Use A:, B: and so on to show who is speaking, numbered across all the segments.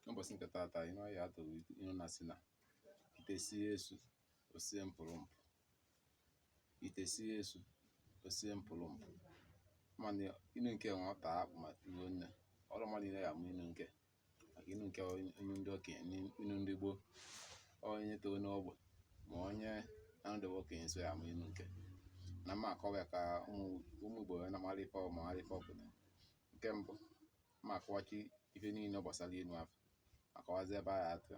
A: N'ụbọchị nke taata ihe ọ ya atụrụ inu na-asị na ite sie esu o sie mpụrụ mpụ ite sie esu o sie mpụrụ mpụ mana inu nke nwa ọ ta akpụ ma tuo nne ọrụ mmadụ niile ya amụ inu nke maka inu nke onye onye ndị okenye ni- inu ndị gboo onye toro n'ogbe ma onye na-anọdebe okenye so ya amụ inu nke na m ma akọwa ya ka ụmụ ụmụ Igbo wee na-amara ife ọ ma mara ife ọ pụtara nke mbụ ma akọwachi ife niile gbasara inu afọ akọwazi ebe a ya atụ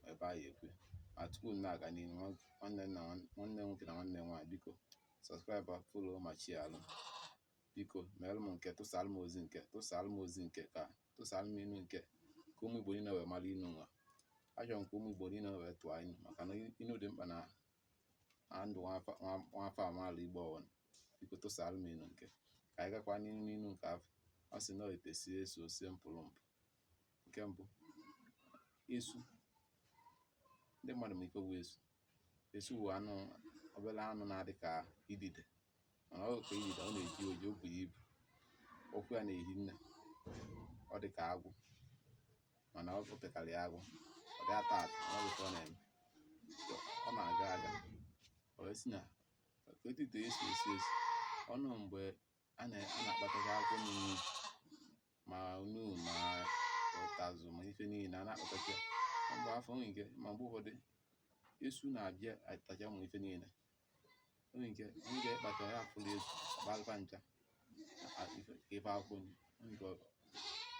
A: ebe a ya ekwu ma tupu m na-aga n'ihu nwanne nna nwanne nwoke na nwanne nwaanyị biko subscribe follow ma sharelụ biko meere m nke tụsara m ozi nke tụsara m ozi nke ka tụsara m inu nke ka ụmụ igbo niile wee mara inu nwa achọrọ m ka ụmụ igbo niile wee tụọ inu maka na inu dị mkpa na ndụ nwa afọ amaala igbo ọwụna biko tụsara m inu nke ka anyị gakwa n'ihu n'inu nke afọ ọ sị na ite sie esu o sie mpụrụ mpụ nke mbụ esu ndị mmadụ ma ife bụ esu esu bụ anụ obere anụ na-adị ka idide mana ọ ka idide ọ na-eji oji o buru ibu ụkwụ ya na-ehi nne ọ dị ka agwọ mana ọ pekarị agwọ ọ dị ata ata ọ dịka ọ na-eme ọ na-aga aga wee sị na etu ite esi esi esu ọnụ mgbe a na-akpatacha akwụkwọ nri ma onu ma ụtazụ ma ife niile a na-akpatacha mgbe afọ nwere ike ma mgbe ụfọdụ esu na-abịa atacha ụmụ ife niile nwere ike nwere ike ịkpata ya afụrọ esu kpalụkwa ncha ebe akwụkwọ nke ọ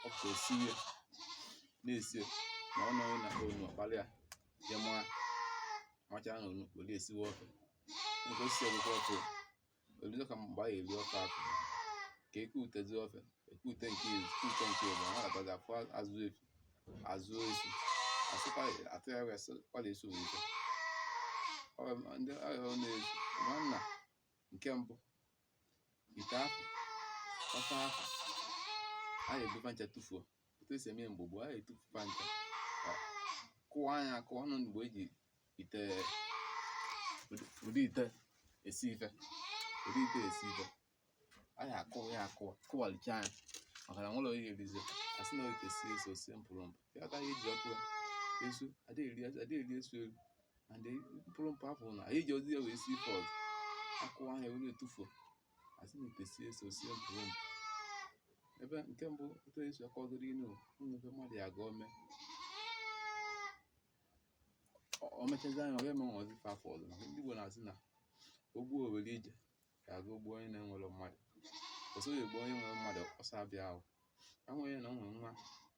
A: pụta esi ihe na-esi ma ọ nọghị na onu ọ kpara ya je mụọ macha ahụ onu were esiwe ofe nke o sisi ọgwụgwọ ofe o luzo ka mgbe a ya eri ofe afọ ka e kutezi ofe e kute nke izu e kute nke ịbụa na-agbazi afọ azụ esu azụ esu asịkwa atụgharị asị kwala esu owuwe ndị agha na-ezu ma nna nke mbụ ite afọ ofe afọ a na-ebu fa ncha tụfuo otu e si eme mgbe gboo a na-etufu fa ncha kụwaa nya akụwa ọnụ mgbe e ji ite ụdị ite esi ife ụdị ite esi ife a na-akụ ya akụwa kụwalichaa nya maka na nwerọ onye erizi a sị na ite sie esu o sie mpụrụ mpụ ya ka e ji akụ ya esu adịghị eri esu eri and mpụrụ mpụ afọ na anyị ejirọzi ya wee si ife ọzọ a kụwaa nya were etufuo a sị na ite sie esu o sie mpụrụ mpụ ebe nke mbụ otu e si akọgoro inu ụmụ ebe mmadụ ya ga ome o mechazia nya ọ ga-emenwuzi ife afọ ọzọ maka ndị Igbo na-asị na o gbuo o were ije ka a ga-egbu onye na-enwerọ mmadụ ọsọ ya egbuo onye nwere mmadụ ọsọ abịa ahụ enweghị na o nwere nwa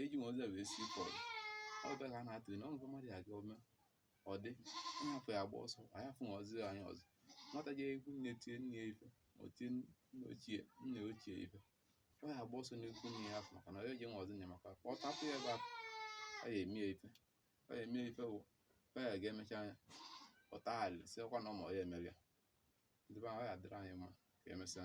A: eji m ọzọ wee si pọl ọ bịa ka a na-atụ na ọnụkọ mmadụ ya aga ome ọ dị onye afụ ya agba ọsọ anyị afụ ọzọ anyị ọzọ nwata je ikwu nne tie nne ya ife ma o tie nne ochie nne ochie ife ọ ya agba ọsọ n'ikwu nne ya afụ maka na ọ ya eji nwa ọzọ nye maka ọ tapụ ya ebe afụ ọ ya eme ya ife ọ ya eme ya ife wụ ọ ya ga-emecha anya ọ taa alị si ọkwa na ọ ma ọ ya emere ya ndị be anyị ọ ya adịrị anyị mma ka emesịa